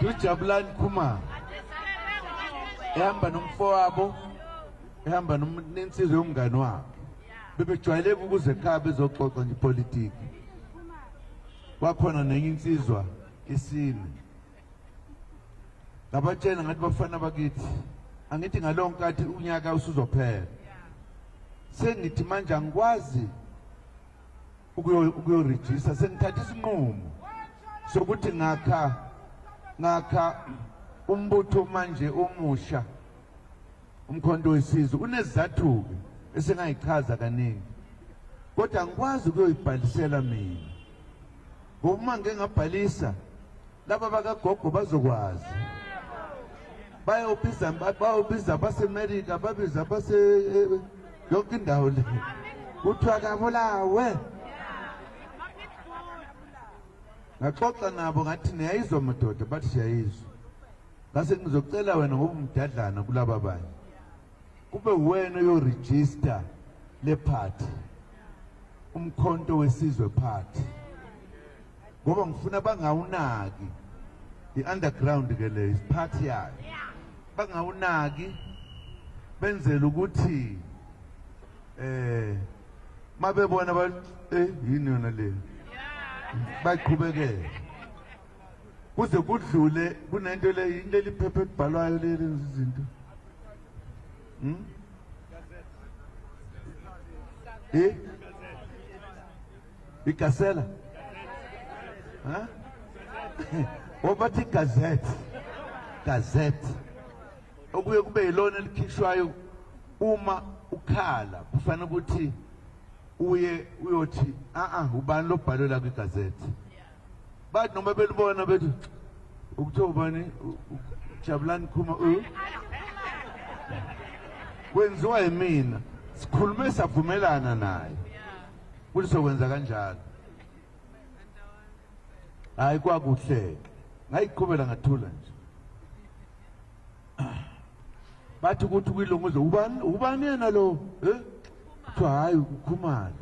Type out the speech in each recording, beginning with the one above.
ujabulani khuma ehamba nomfowabo ehamba nensizwe yomngane wabo bebejwayeleka ukuze ekhaya bezoxoxa nje ipolitiki wakhona nenye insizwa isine ngabatshela ngathi bafana bakithi angithi ngalowo nkathi unyaka usuzophela sengithi manje angikwazi ukuyorejista sengithatha isinqumo sokuthi ngakha ngakha umbutho manje omusha umkhonto wesizwe unezizathu-ke esingayichaza kaningi kodwa angikwazi ukuyoyibhalisela mina ngoba uma ngingabhalisa Laba bakagogo bazokwazi. Bayobiza bayobiza baseMelika babiza base eh, yonke indawo le. Kuthiwa kabulawe. Ngaxoxa nabo ngathi niyayizwa madoda bathi siyayizwa. Ngase ngizocela wena ngoba umdadlana kulaba banye. Kube wena yo register le party. Umkhonto wesizwe party. ngoba ngifuna bangawunaki i-underground ke le isiphathi yayo bangawunaki benzele ukuthi eh mabebona ba eh yini yona le baqhubekele kuze kudlule kunento le into eliphephe ebhalwayo le lenza izinto hm eh Igasela. Huh? Obathi gazette. Gazette. Okuye kube yilona elikhishwayo uma ukhala kufanele ukuthi uye uyothi a a ubani lobhalwe la kwi gazette. bathi noma belibona bethi ukuthiwa ubani jabulani khuma u kwenziwa yimina sikhulume savumelana naye ukuthi sokwenza kanjalo hayi kwakuhleke ngayiqhubela ngathula nje bathi ukuthi kwilunguzo ubani ubani yena lo eh kuthiwa hhayi ukhumalo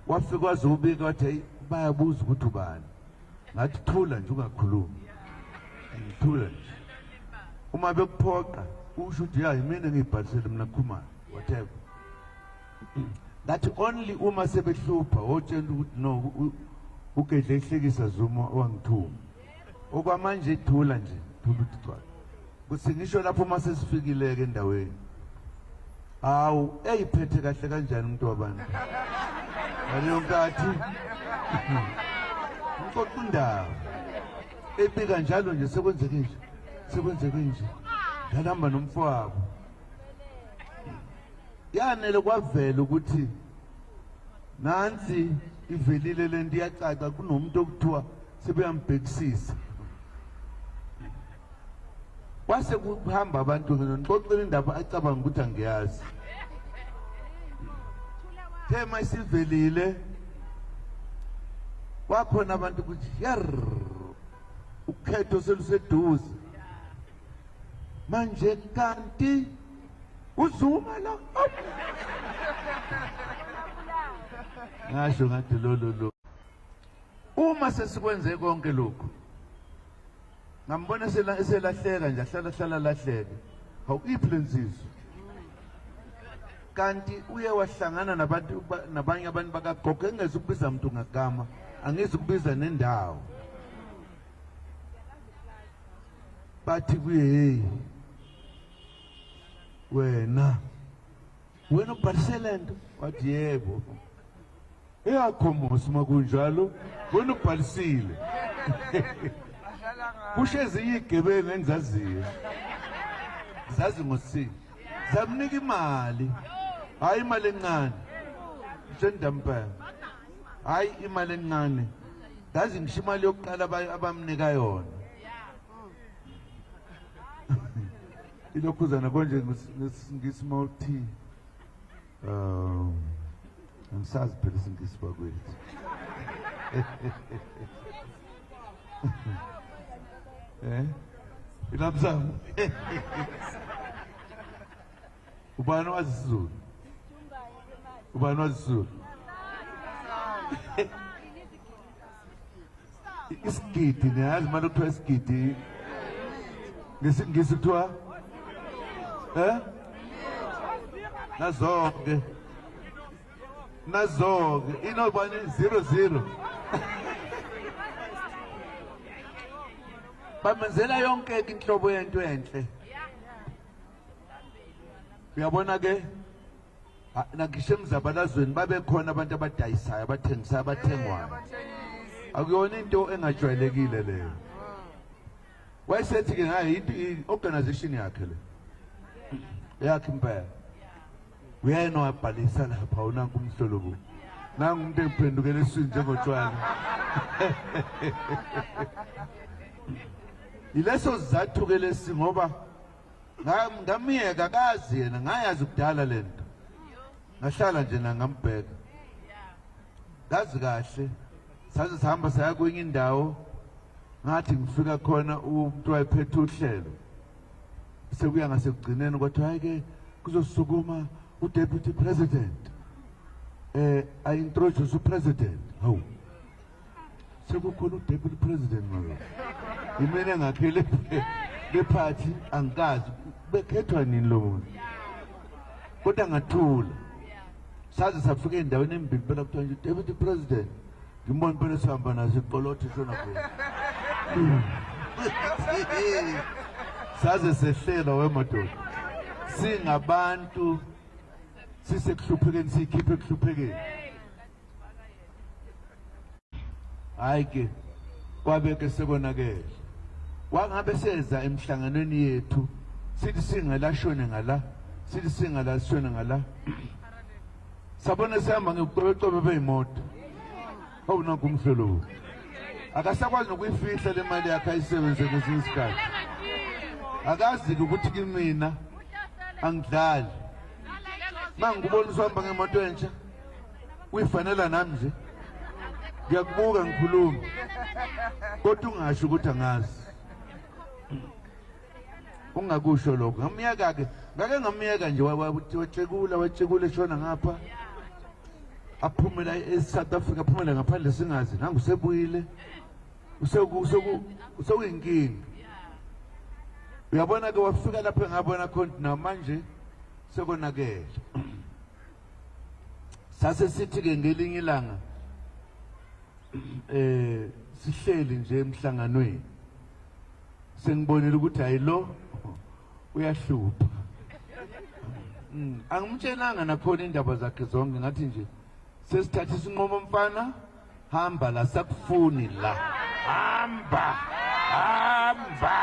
wafika wazobika wathi hayi bayabuza ukuthi ubani ngathi thula nje ungakhulumi ngithula nje uma bekuphoqa usho ukuthi ya yimina ngiyibhalisele mina khumalo whatever ngathi only uma sebehlupha wotshela ukuthi no ugedle ehlekisa zuma wangithuma okwamanje ithula nje thula ukuthi gcwala kuthi ngisho lapho uma sesifikile-ke endaweni hawu eyiphethe kahle kanjani umuntu wabantu ngaleyo nkathi ngixoxa indaba ebika njalo nje sekwenzeke nje sekwenzeke nje ngalihamba nomfowabo yanele kwavela ukuthi nansi ivelile le nto iyacaca kunomuntu okuthiwa sebeyambhekisisa kwase kuhamba abantu ngixoxela indaba acabanga ukuthi angiyazi thema isivelile kwakhona abantu ukuthi yer ukhetho seluseduze manje kanti uzuma la ngasho ngathi lolo lo Uma sesikwenze konke lokhu ngambona sela eselahleka nje ahlala hlala lahleke hawu iphi lensizwa kanti uye wahlangana nabantu nabanye abantu bakagogo engeza ukubiza umuntu ngagama angizi ukubiza nendawo bathi kuye hey wena wena ubhalise le nto wathi yebo eyakhomosi uma kunjalo wena ubhalisile kusho ezinye iy'gebengu engizaziyo zazi ngosini zamnika imali hhayi imali encane njendampela hhayi imali encane ngazi ngisho imali yokuqala abamnika yona ilokhuzana konje ngesingisi uma uthi um angisazi phela isingisi bakwethu eh ilabzamu ubani wazi isizulu ubani wazi isizulu isigidi niyazi manje kuthiwa isigidi ngesingisi kuthiwa eh nazonke nazonke inobani 00 bamenzela yonke inhlobo yento enhle uyabona ke Ha- Nagisho emzabalazweni babekhona abantu abadayisayo abathengisayo abathengwayo akuyona into engajwayelekile leyo wayesethi-ke ngayo into- i-organisation yakhe le yakhe impela uyena wabhalisa lapha unanku umhlolobo nangu umuntu ephendukela eswini njengotshwala yileso sizathu-ke lesi ngoba ngamyeka kazi yena ngayazi kudala le nto ngahlala nje nangambheka kazi kahle saze sihamba saya kwenye indawo ngathi ngifika khona umuntu wayephethe uhlelo sekuya ngasekugcineni kwathiwa hhayi-ke kuzosukuma udeputy president um eh, ayi-introduce upresident hawu sekukhona udeputy president ngoyo imele ngakhele bephathi angikazi bekhethwa nini lo muntu kodwa ngathula saze safika endaweni embili phela kuthiwa nje deputy president ngimbona phela sihamba naso iqolothe shona khona saze sehlela wemadoda singabantu sisekuhluphekeni siyikhiphe ekuhluphekeni hayi ke kwabe ke sekonakele wangabe seza emhlanganweni yethu sithi singalashone ngala sithi singalashone ngala sabona sihamba ngekuqobeqobe beyimoto awunakho umhlolo wo akasakwazi nokuyifihla le mali yakhe ayisebenze kwesinye isikhathi akazi-ke ukuthi kimina angidlali ma ngikubona usihamba ngemoto entsha uyifanela nami nje ngiyakubuka ngikhuluma kodwa ungasho ukuthi angazi ungakusho lokho ngamyeka-ke ngake ngamyeka nje watshekula watshekula eshona ngapha aphumela e-south africa aphumela ngaphandle singazi nangu usebuyile usewuyinkinga uyabona-ke wafika lapho engabona khona namanje sekonakele sase sithi ke ngelinye ilanga eh sihleli nje emhlanganweni sengibonile ukuthi hayi lo uyahlupha mm, angimtshelanga nakhona indaba zakhe zonke ngathi nje sesithatha isinqomo mfana hamba la sakufuni la hamba hamba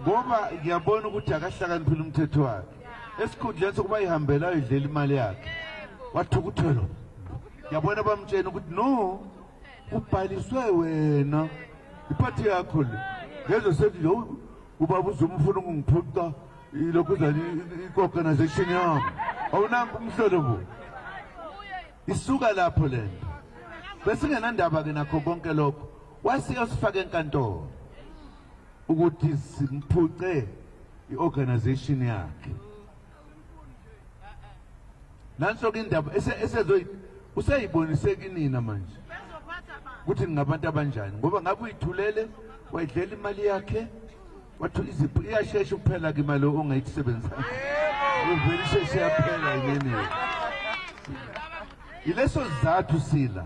ngoba ngiyabona ukuthi akahlakaniphile umthetho wakhe esikhundleni sokuba ihambela ayidlela imali yakhe wathukuthelwa ngiyabona bamtshena ukuthi no ubhaliswe wena iphathi yakho le ngezwe sethi lo ubaba uzomfuna ukungiphuca ilokhu zani i-organization yami awunambi umhlolo bo Isuka lapho lento. Besingenandaba ke nakho konke lokho. Wasiyosifaka enkantolo ukuthi simphuce iorganization yakhe. Nanso ke indaba esezoyi useyibonise kinina manje. Ukuthi ngabantu abanjani ngoba ngabe uyithulele wayidlela imali yakhe Wathula iziphu iyashesha ukuphela ke imali ongayisebenzisa. Uvele isheshe yaphela yini? Yileso sizathu sila.